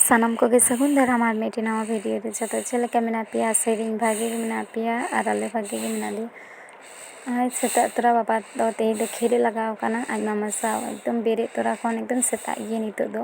ᱥᱟᱱᱟᱢ ᱠᱚᱜᱮ ᱥᱟᱹᱜᱩᱱ ᱫᱟᱨᱟᱢ ᱟᱨ ᱢᱤᱫᱴᱮᱱ ᱱᱟᱣᱟ ᱵᱷᱤᱰᱤᱭᱳ ᱨᱮ ᱡᱚᱛᱚ ᱪᱮᱫ ᱞᱮᱠᱟ ᱢᱮᱱᱟᱜ ᱯᱮᱭᱟ ᱟᱥᱟᱭ ᱫᱟᱹᱧ ᱵᱷᱟᱜᱮ ᱜᱮ ᱢᱮᱱᱟᱜ ᱯᱮᱭᱟ ᱟᱨ ᱟᱞᱮ ᱵᱷᱟᱜᱮ ᱜᱮ ᱢᱮᱱᱟᱜ ᱞᱮᱭᱟ ᱟᱨ ᱥᱮᱛᱟᱜ ᱛᱚᱨᱟ ᱵᱟᱵᱟ ᱫᱚ ᱛᱮᱦᱮᱧ ᱫᱚ ᱠᱷᱮᱞᱮ ᱞᱟᱜᱟᱣ ᱠᱟᱱᱟ ᱟᱡ ᱢᱟᱢᱟ ᱥᱟᱶ ᱮᱠᱫᱚᱢ ᱵᱮᱨᱮᱫ ᱛᱚᱨᱟ ᱠᱷᱚᱱ ᱮᱠᱫᱚᱢ ᱥᱮᱛᱟᱜ ᱜᱮ ᱱᱤᱛᱚᱜ ᱫᱚ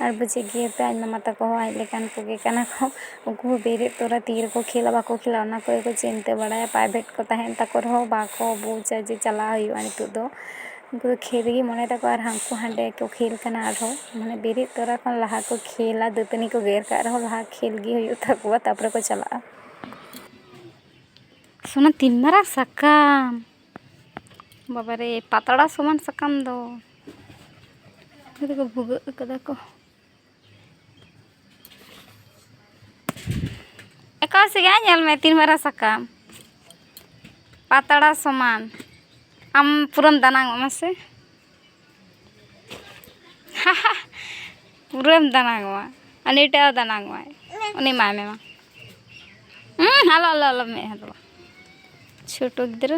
ᱟᱨ ᱵᱩᱡᱮᱫ ᱜᱮᱭᱟᱯᱮ ᱟᱡ ᱢᱟᱢᱟ ᱛᱟᱠᱚ ᱦᱚᱸ ᱟᱡ ᱞᱮᱠᱟᱱ ᱠᱚᱜᱮ ᱠᱟᱱᱟ ᱠᱚ ᱩᱱᱠᱩ ᱦᱚᱸ ᱵᱮᱨᱮᱫ ᱛᱚᱨᱟ ᱛᱤ ᱨᱮᱠᱚ ᱠᱷᱮᱞᱟ ᱵᱟᱠᱚ ᱠᱷᱮᱞᱟ ᱚᱱᱟ ᱠᱚᱜᱮ ᱠᱚ ᱪᱤᱱᱛᱟᱹ ᱵᱟᱲᱟᱭᱟ ᱯᱨᱟᱭᱵᱷᱮᱴ ᱠᱚ ᱛᱟᱦᱮᱱ ᱛᱟᱠᱚ ᱨᱮᱦᱚᱸ ᱵᱟᱠᱚ ᱵᱩᱡᱟ ᱡᱮ ᱪᱟᱞᱟᱣ ᱦᱩᱭᱩᱜᱼᱟ ᱱᱤᱛᱚᱜ ᱫᱚ ᱩᱱᱠᱩ ᱫᱚ ᱠᱷᱮᱞ ᱨᱮᱜᱮ ᱢᱚᱱᱮ ᱛᱟᱠᱚ ᱟᱨ ᱦᱟᱱᱠᱩ ᱦᱟᱸᱰᱮ ᱠᱚ ᱠᱷᱮᱞ ᱠᱟᱱᱟ ᱟᱨᱦᱚᱸ ᱢᱟᱱᱮ ᱵᱮᱨᱮᱫ ᱛᱚᱨᱟ ᱠᱷᱚᱱ ᱞᱟᱦᱟ ᱠᱚ ᱠᱷᱮᱞᱟ ᱫᱟᱹᱛᱟᱹᱱᱤ ᱠᱚ ᱜᱮᱫ ᱠᱟᱜ ᱨᱮᱦᱚᱸ ᱞᱟᱦᱟ ᱠᱷᱮᱞ ᱜᱮ ᱦᱩᱭᱩᱜ ᱛᱟᱠᱚᱣᱟ ᱛᱟᱨᱯᱚᱨᱮ ᱠᱚ ᱪᱟᱞᱟᱜᱼᱟ ᱥᱳᱱᱟ ᱛᱤᱱ ᱢᱟᱨᱟᱝ ᱥᱟᱠᱟᱢ ᱵᱟᱵᱟᱨᱮ ᱯᱟᱛᱲᱟ ᱥᱚᱢᱟᱱ ᱥᱟᱠᱟᱢ ᱫᱚ ᱩᱱᱠᱩ ᱫᱚᱠᱚ ᱵᱷᱩᱜᱟᱹᱜ ᱠᱟᱫᱟ ᱠᱚ ᱮᱠᱟᱞ ᱥᱮᱜᱮ ᱧᱮᱞ ᱢᱮ ᱛᱤᱱ ᱢᱟᱨᱟᱝ ᱥᱟᱠᱟᱢ ᱯᱟᱛᱲᱟ ᱥᱚᱢᱟᱱ ᱟᱢ ᱯᱩᱨᱟᱹᱢ ᱫᱟᱱᱟᱝ ᱚᱜᱼᱟ ᱥᱮ ᱯᱩᱨᱟᱹᱢ ᱫᱟᱱᱟᱝ ᱚᱜᱼᱟ ᱩᱱᱤ ᱴᱟᱜ ᱦᱚᱸ ᱫᱟᱱᱟᱝ ᱚᱜᱼᱟᱭ ᱩᱱᱤ ᱮᱢᱟᱭ ᱢᱮ ᱢᱟ ᱦᱩᱸ ᱟᱞᱚ ᱟᱞᱚ ᱟᱞᱚ ᱢᱮᱫ ᱦᱟᱫᱚᱜᱼᱟ ᱪᱷᱳᱴᱳ ᱜᱤᱫᱽᱨᱟᱹ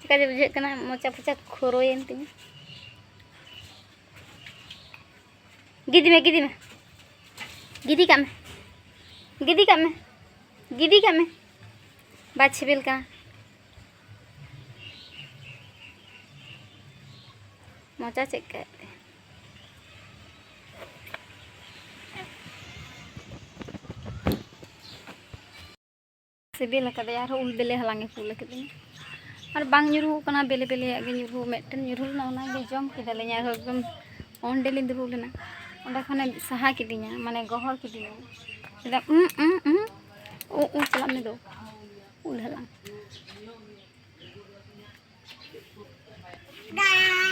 ᱪᱮᱠᱟ ᱡᱮ ᱵᱩᱡᱷᱟᱹᱜ ᱠᱟᱱᱟ ᱢᱚᱪᱟ ᱯᱚᱪᱟ ᱠᱷᱚᱨᱚᱭᱮᱱ ᱛᱤᱧᱟ ᱜᱤᱫᱤ ᱢᱮ ᱜᱤᱫᱤ ᱢᱮ ᱜᱤᱫᱤ ᱠᱟᱜ ᱢᱮ ᱜᱤᱫᱤ ᱠᱟᱜ ᱢᱮ ᱜᱤᱫᱤ ᱠᱟᱜ ᱢᱮ ᱵᱟᱭ ᱥᱤᱵᱤᱞ ᱠᱟᱱᱟ ᱢᱚᱪᱟ ᱪᱮᱫ ᱠᱟᱜ ᱛᱮ ᱥᱤᱵᱤᱞ ᱟᱠᱟᱫᱮᱭᱟ ᱟᱨᱦᱚᱸ ᱩᱞ ᱵᱮᱞᱮ ᱦᱟᱞᱟᱝ ᱮ ᱠᱩᱞ ᱟᱠᱟᱫᱤᱧᱟ ᱟᱨ ᱵᱟᱝ ᱧᱩᱨᱩ ᱠᱟᱱᱟ ᱵᱮᱞᱮ ᱵᱮᱞᱮᱭᱟᱜ ᱜᱮ ᱧᱩᱨᱩ ᱢᱤᱫᱴᱮᱱ ᱧᱩᱨᱩ ᱞᱮᱱᱟ ᱚᱱᱟᱜᱮ ᱡᱚᱢ ᱠᱮᱫᱟᱞᱤᱧ ᱟᱨᱦᱚᱸ ᱮᱠᱫᱚᱢ ᱚᱸᱰᱮ ᱞᱤᱧ ᱫᱩᱲᱩᱵ ᱞᱮᱱᱟ ᱚᱸᱰᱮ ᱠᱷᱚᱱᱮ ᱥᱟᱦᱟ ᱠᱤᱫᱤᱧᱟ ᱢᱟᱱᱮ ᱜᱚᱦᱚᱲ ᱠᱤᱫᱤᱧᱟ ᱮᱠᱫᱚᱢ ᱩᱸ ᱩᱸ ᱩᱸ ᱩᱸ ᱩᱸ ᱪᱟᱞᱟᱜ ᱢᱮ ᱫᱚ ᱩᱞ ᱦᱟᱞᱟᱝ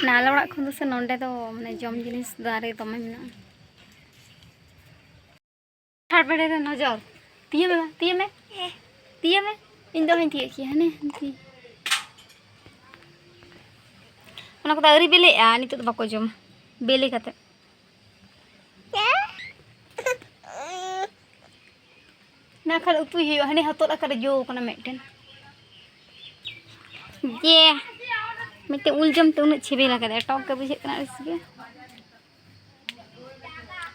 ᱱᱟᱞᱟ ᱚᱲᱟᱜ ᱠᱷᱚᱱ ᱫᱚ ᱥᱮ ᱱᱚᱸᱰᱮ ᱫᱚ ᱢᱟᱱᱮ ᱡᱚᱢ ᱡᱤᱱᱤᱥ ᱫᱟᱨᱮ ᱫᱚᱢᱮ ᱢᱮᱱᱟᱜᱼᱟ ᱟᱨ ᱵᱮᱲᱮ ᱨᱮ ᱱᱚᱡᱚᱨ ᱛᱤᱭᱟᱹ ᱢᱮ ᱛᱤᱭᱟᱹ ᱢᱮ ᱛᱤᱭᱟᱹ ᱢᱮ ᱤᱧ ᱫᱚ ᱦᱟᱹᱧ ᱛᱤᱭᱟᱹᱜ ᱠᱮᱭᱟ ᱦᱟᱱᱮ ᱦᱟᱱᱛᱤ ᱚᱱᱟ ᱠᱚᱫᱚ ᱟᱹᱣᱨᱤ ᱵᱮᱞᱮᱜᱼᱟ ᱱᱤᱛᱚᱜ ᱫᱚ ᱵᱟᱠᱚ ᱡᱚᱢᱟ ᱵᱮᱞᱮ ᱠᱟᱛᱮ ᱱᱟ ᱠᱷᱟᱱ ᱩᱛᱩᱭ ᱦᱩᱭᱩᱜᱼᱟ ᱦᱟᱱᱮ ᱦᱚᱛᱚᱫ ᱟᱠᱟᱨᱮ ᱡᱚ ᱠᱟᱱᱟ ᱢᱤᱫᱴᱮᱱ ᱡᱮ ᱢᱤᱫᱴᱮᱱ ᱩᱞ ᱡᱚᱢ ᱛᱮ ᱩᱱᱟᱹᱜ ᱪᱷᱤᱵᱤᱞ ᱟᱠᱟᱫᱟ ᱴᱚᱠ ᱜᱮ ᱵᱩᱡᱷᱟᱹᱜ ᱠᱟᱱᱟ ᱟᱹᱲᱤᱥ ᱜᱮ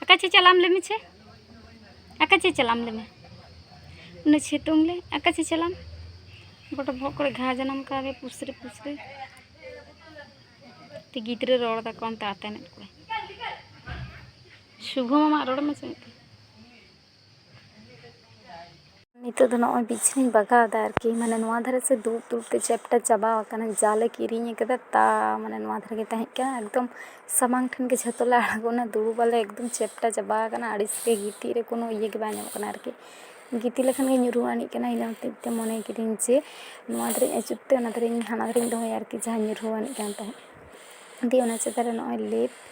ᱟᱠᱟ ᱪᱮ ᱪᱟᱞᱟᱢ ᱞᱮᱢᱮ ᱪᱮ ᱟᱠᱟ ᱪᱮ ᱪᱟᱞᱟᱢ ᱞᱮᱢᱮ ᱩᱱᱟᱹᱜ ᱥᱤᱛᱩᱝ ᱞᱮ ᱟᱠᱟ ᱪᱮ ᱪᱟᱞᱟᱢ ᱜᱚᱴᱟ ᱵᱚᱦᱚᱜ ᱠᱚᱨᱮ ᱜᱷᱟ ᱡᱟᱱᱟᱢ ᱠᱟᱣᱫᱮ ᱯᱩᱥᱨᱤ ᱯᱩᱥᱨᱤ ᱛᱮ ᱜᱤᱫᱽᱨᱟᱹ ᱨᱚᱲ ᱫᱟᱠᱚ ᱚᱱᱛᱮ ᱟᱛᱮᱱᱮᱫ ᱠᱚᱣᱟᱭ ᱥᱩᱵᱷᱚ ᱢᱟᱢᱟᱜ ᱨᱚᱲ ᱮᱢ ᱟᱸᱡᱚᱢᱮᱫ ᱛᱟᱭᱟ ᱱᱤᱛᱚᱜ ᱫᱚ ᱱᱚᱜᱼᱚᱭ ᱵᱤᱪᱷᱱᱟᱹᱧ ᱵᱟᱜᱟᱣᱫᱟ ᱟᱨᱠᱤ ᱢᱟᱱᱮ ᱱᱚᱣᱟ ᱫᱷᱟᱨᱮ ᱥᱮ ᱫᱩᱲᱩᱵ ᱫᱩᱲᱩᱵ ᱛᱮ ᱪᱮᱯᱴᱟ ᱪᱟᱵᱟᱣ ᱟᱠᱟᱱᱟ ᱡᱟᱞᱮ ᱠᱤᱨᱤᱧ ᱟᱠᱟᱫᱟ ᱛᱟ ᱢᱟᱱᱮ ᱱᱚᱣᱟ ᱫᱷᱟᱨᱮ ᱜᱮ ᱛᱟᱦᱮᱸ ᱠᱟᱱᱟ ᱮᱠᱫᱚᱢ ᱥᱟᱢᱟᱝ ᱴᱷᱮᱱ ᱜᱮ ᱡᱷᱚᱛᱚ ᱞᱮ ᱟᱬᱜᱚᱱᱟ ᱫᱩᱲᱩᱵᱟᱞᱮ ᱮᱠᱫᱚᱢ ᱪᱮᱯᱴᱟ ᱪᱟᱵᱟ ᱟᱠᱟᱱᱟ ᱟᱹᱲᱤᱥ ᱜᱮ ᱜᱤᱛᱤᱡ ᱨᱮ ᱠᱳᱱᱳ ᱤᱭᱟᱹ ᱜᱮ ᱵᱟᱝ ᱧᱟᱢᱚᱜ ᱠᱟᱱᱟ ᱟᱨᱠᱤ ᱜᱤᱛᱤᱡ ᱞᱮᱠᱷᱟᱱ ᱜᱮ ᱧᱩᱨᱩ ᱟᱹᱱᱤᱡ ᱠᱟᱱᱟ ᱤᱱᱟᱹ ᱦᱚᱛᱮᱡ ᱛᱮ ᱢᱚᱱᱮ ᱠᱤᱫᱟᱹᱧ ᱡᱮ ᱱᱚᱣᱟ ᱫᱷᱟᱨᱮᱧ ᱟᱹᱪᱩᱨ ᱛᱮ ᱚᱱᱟ ᱫᱷᱟᱨᱮᱧ ᱦᱟᱱᱟ ᱫᱷᱟᱨᱮᱧ ᱫᱚᱦᱚᱭᱟ ᱟᱨᱠᱤ ᱡᱟᱦᱟᱸ ᱧᱩᱨᱦᱩ ᱟᱹᱱᱤᱡ ᱠᱟᱱ ᱛᱟᱦᱮᱸᱫ ᱫᱤᱭᱮ ᱚᱱᱟ ᱪᱮᱛᱟᱱ ᱨᱮ ᱱᱚᱜᱼᱚᱭ ᱞᱮᱯ